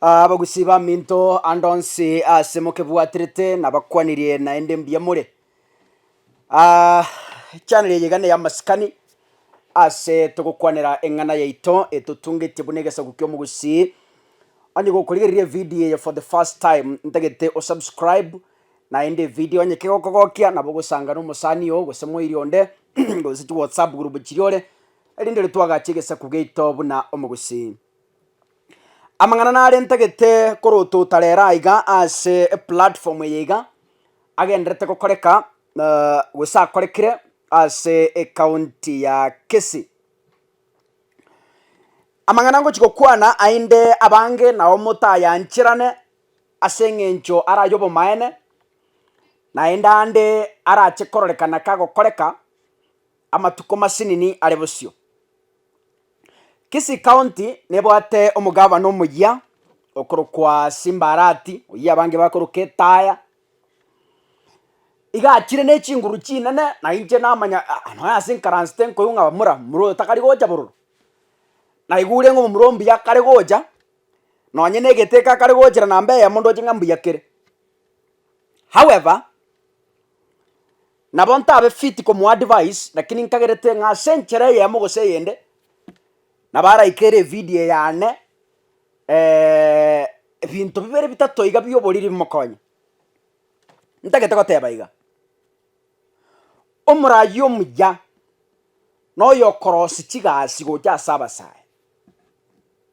Abagusi baminto ande onsi ase mokebwaterete nabakwanirie naende mbuya more. Ah, chaneli eye gane y'amasikani ase togokwanera eng'ana yaito etotungetie buna egesaku ki'omogusi onye gokorigereria evidio eye for the first time ntagete osubscribe naende evidio onye kegokogokia nabo ogosanga na omosani oo gose moiri onde gose chiwhatsapp group chiria ore erinde ere twagache egesaku giaito buna omogusi. Amang'ana narentagete korotota rero aiga ase eplatform eye iga, agenderete gokoreka gose akorekire ase ekaunti ya Kisii. Amang'ana ngochi gokwana aende abange nao motayancherane ase eng'encho ara aye obomaene, naende ande arache kororekana kagokoreka amatuko masinini are bosio. Kisii county nebwate omogavana omoyia okorokwa Simba Arati, oyio abange bakoroka etaya, iga achire ne chinguru chinene na inche namanya ah nonya ase nkaransete nkoigwa ng'a bamura mura oyo takari gocha bororo, naigure ng'a omomura ombuya kare gocha, nonye na egete eke akare gochera namba eyemo ndoche ng'a mbuya kere. However. Nabo ntabe fiti komoa advice, lakini nkagerete ng'a ase enchera eyemo gose eyende, nabo araikere evidio eye ane, ebinto bibere bitato iga bi'oboriri bimokonye. Ntagete goteba iga, omorayi omuya noyo okorosia chigasi gocha ase abasae.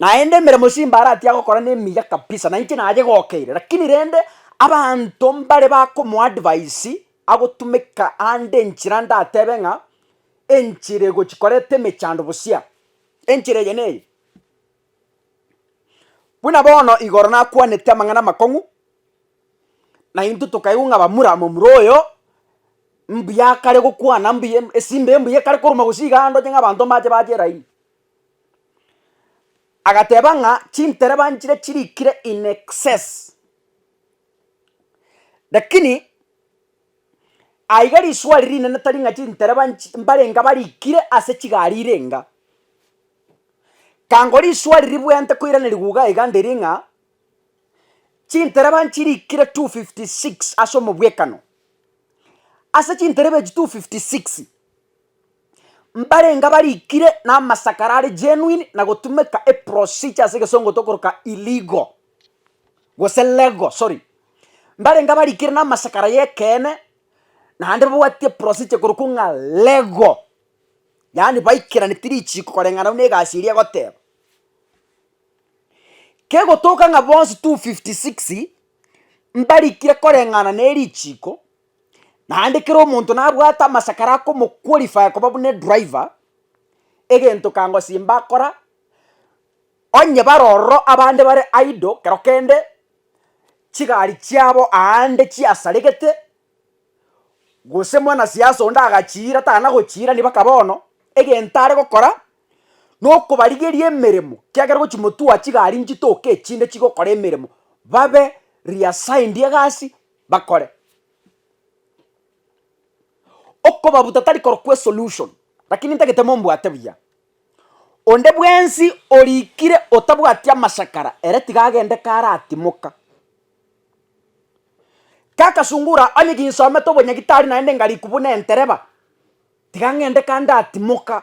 Naende emeremo Simba aratia gokora nemiya kabisa, nainche nayegokeire, lakini rende abanto mbare bakomoadvise agotumeka ande enchera ndatebe ng'a enchera egochi koreta emechando bosia, enchera eye neye. Buna bono igoro nakwanete amang'ana amakong'u, naintwe tokaigwa ng'a bamura momura oyo, mbuya akare gokwana mbuya esimba embuya ekare koruma gose iga ande onye ng'a abanto mbache bache eraini. Agateba ng'a chintere banchire chirikire in excess, lakini aiga riswali rinene tari ng'a chintere banchi mbarenga barikire ase chigari ire enga, kangora riswali ribwenerete koirana riguga iga ndiri ng'a, chintereba nchirikire two fifty six ase omobwekano, ase chintereba echi two fifty six. mbarenge abarikire na amasakara are genuine na gotumeka e procedure ase egesongo tokoroka illegal gose legal sorry, mbarenge abarikire na amasakara ya ekeene naende babwate procedure korokwa ng'a legal, yaani baikeraneti richiko koreng'ana buna egasi eria egoteba. Kegotoka ng'a bonsi 256 mbarikire koreng'ana ne richiko. Naende kera omonto nabwate amasakara akomoqualify koba buna edriver, egento kango simba akora, onye bare ororo abande bare idle kero kende, chigari chiabo aande chiasaregete, gose mwanasiasa onde agachiira tana gochiira nigo baka bono, egento are gokora, nokobarigeria emeremo, kiagera gochi motua chigari nchitoke echinde chigokora emeremo, babe reassigned egasi bakore. Okobabuta tari korokwa esolution, rakini ntagete mombwate buya. Onde bwensi orikire otabwati amachakara ere tiga agende karatimoka. Kagasungura onye ginsomete obonyagitari naende ngariku buna entereba, tiga ng'ende kandatimoka.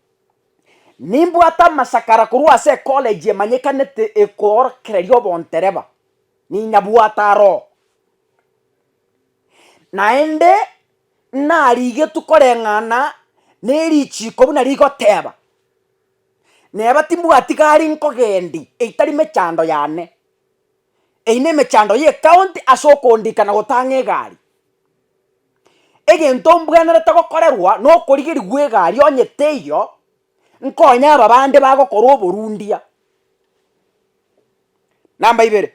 Nimbwate amasakara korwa ase ekolegi emanyekanete ekoorokereria obontereba, ninyabwate aroo. Naende narigetwe koreng'ana nerichiiko buna rigoteeba, neba timbwati gari nkogendi etari mechando yane, eyio nemechando y'ecounty ase okondikana gotang'a egari. Egento mbwenerete gokorerwa nokorigirigwa egari onye teiyo, nkonye aba bande bagokora oborundia. Namba ibere,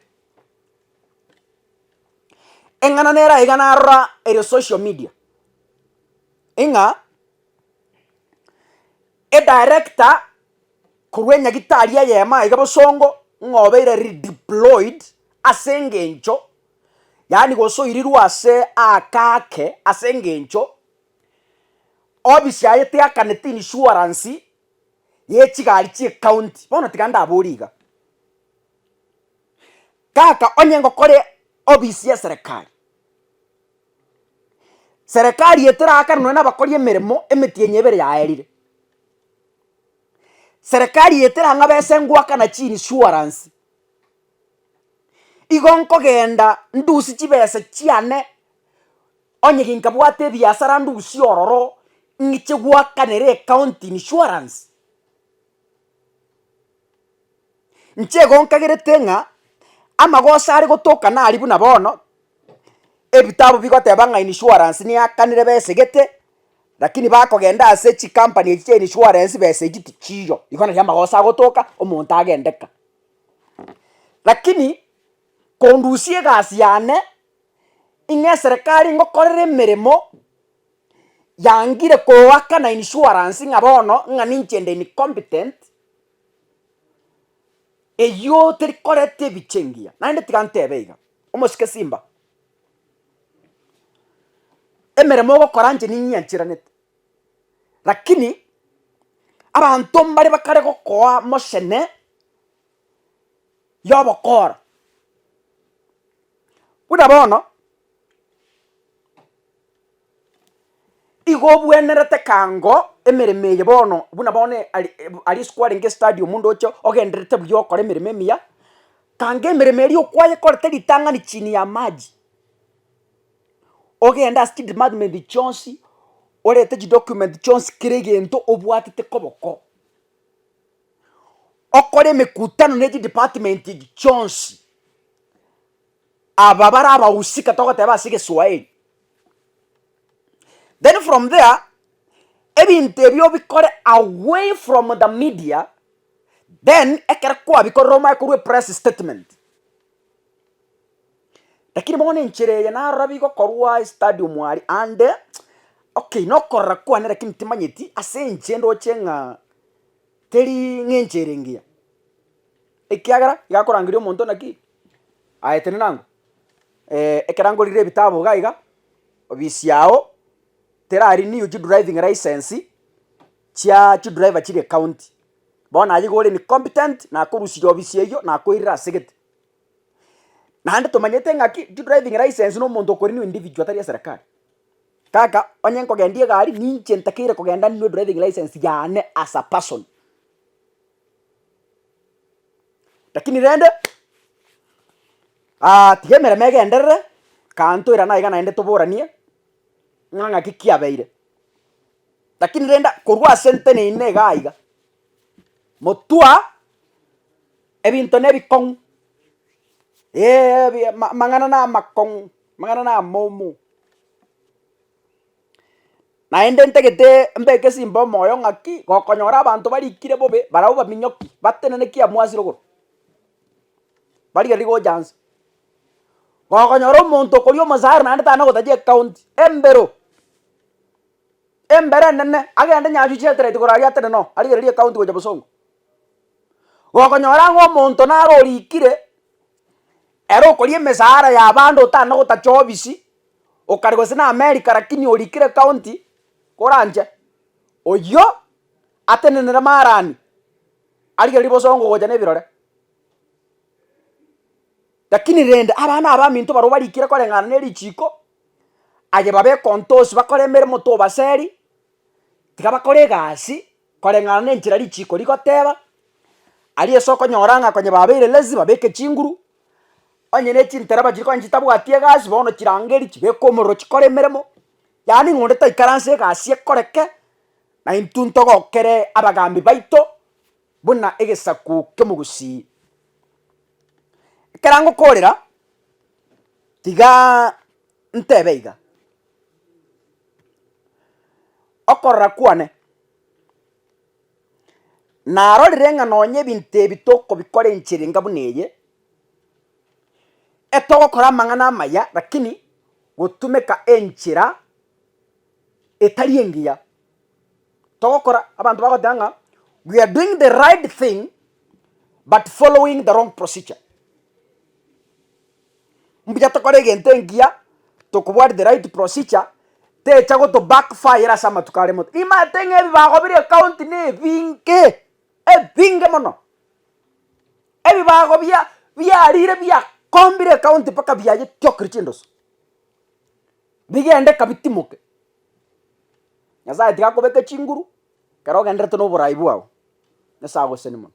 eng'ana nere aiga narora ere social media, ing'a edirector korwa enyagitari eyemo aiga bosongo ng'a obeire redeployed ase engencho. yaani gosoirirwa ase aaka ake ase engencho office yaye teakaneti insurance ye chigari chie county, bono tiga ndabori iga. Kaka onye ngokore office ye serekari, serekari etirakane nonye na abakori emeremo emetienyi ebere yaerire, serekari eterang'abe ase ngoakana chi insurance igo nkogenda ndusie chibesa chiane, onye ginkabwate ebiasara ndusie ororo, ng'iche gwakanere ecounty insurance. Inche igo nkagerete ng'a amagoso are gotokana aria buna bono, ebitabu bigoteba ng'a insurance niyakanire besegete, lakini bakogenda ase chikampani echi chia insurance besa echi tichiiyo, igo nari amagoso agotoka omonto agende ka. Lakini kondusia egasi yane, ing'e eserekari ngokorere emeremo yangire koaka na insurance ng'a bono ng'a ninche nde incompetent, eyio teri koreta ebiche engiya. Naende tiga ntebe iga, omosike simba, emeremo ogokora inche ninyiancheranete. Lakini abanto mbare bakare gokoa mochene y'obokoro, buna bono igo obwenerete ekango emeremo eye bono buna bono e- ari ebu aria isiko arenge estadi omonto oche ogendererete buya ogokora emeremo emiya, kanga emeremo eria okwayekorete ritang'ani chini y'amaji. ogende ase chidepartment chionsi, orete chidocument chionsi kera egento obwatete koboko, okore emekutano ne chidepartment echi chionsi, aba bare abahusika togoteba ase egeswaeri, then from there ebinto ebi obikore away from the media, then ekero kwabikorire omanye korwa epress statement. Lakini bono enchera eye narora bi gokorwa ase stadium aria ande, okay nokorora kwane lakini timanyeti ase inche ndoche ng'a teri ng'a enchera engiya, ekiagera iga akorangeria omonto naki aye tene nango ekero ngorire ebitabu iga iga, ofisi yago tera renew chidriving license chia chidriver chire county, bono naye iga ore incompetent nakorusirie ofisi eywo nakoirera asegete. Naende tomanyete ng'aki driving license na omonto okore na individual tari eserekari. Kaka onye nkogendia egari ninche ntakeire kogenda ninwe driving license yane as a person. Lakini rende tiga emeremo egenderere kanto irana iga naende toboranie ng'a ng'aki kiabeire. Lakini rende korwa ase ntenenine igaa iga. Motwa ebinto nebikong'u, eeebi ama amang'ana namakong'u, amang'ana namomu, naende ntagetee mbeke simba omoyo ng'aki gokonyora abanto barikire bobe barabwo baminyoki batenene ki amwasi rogoro, bari gari gocha inse, gokonyora omonto okoria omosara naende tari nagotachia ekaunti, embero. Embere enene agende nyacho chi'etereti koraria Atene noo, arigererie county gocha bosongo. Gokonyora ng'a omonto naro orikire, ere okoria emesara y'abande otana na gotacha obisi, okare gose na America lakini orikire county koranche, oyio atenenere marani, arigererie bosongo gocha na ebirore. Lakini rende abana abaminto barobwo barikire koreng'ana na erichiko. aye babeke ontoosi bakore emeremo tobaseri, tiga bakore egasi koreng'ana na enchera richiiko rigoteba, aria ase okonyora ng'a konya babeire lazy babeke chinguru, onye ne chintereba chiri konya chitabwati egasi bono chirangeri chibeke omorero chikore emeremo, yaani ng'a onde taikaranse egasi ekoreke, na intwe ntogokere abagambi baito buna egesaku ki'omogusii. Ekero agokoorera, Tigaa ntebe iga, okorora kwane narorire ng'a nonye ebinto ebi tokobikora enchera enga buna eye, etogokora amang'ana amaya lakini gotumeka enchera etari engiya. togokora abanto bagoteba ng'a we are doing the right thing but following the wrong procedure. Mbuya tokore egento engiya tokobwati the right procedure techa goto back fire ase amatuko are moto. Nimanyete ng'a ebibago bire ekaunti na ebinge, ebinge mono. Ebibago bia biarire biakombire ekaunti mpaka biayeitiokire chindoso. bigende kabitimoke. Nyasaye tiga kobeke chinguru, kero ogenderete noborai bwao, nesaha goseseni mono.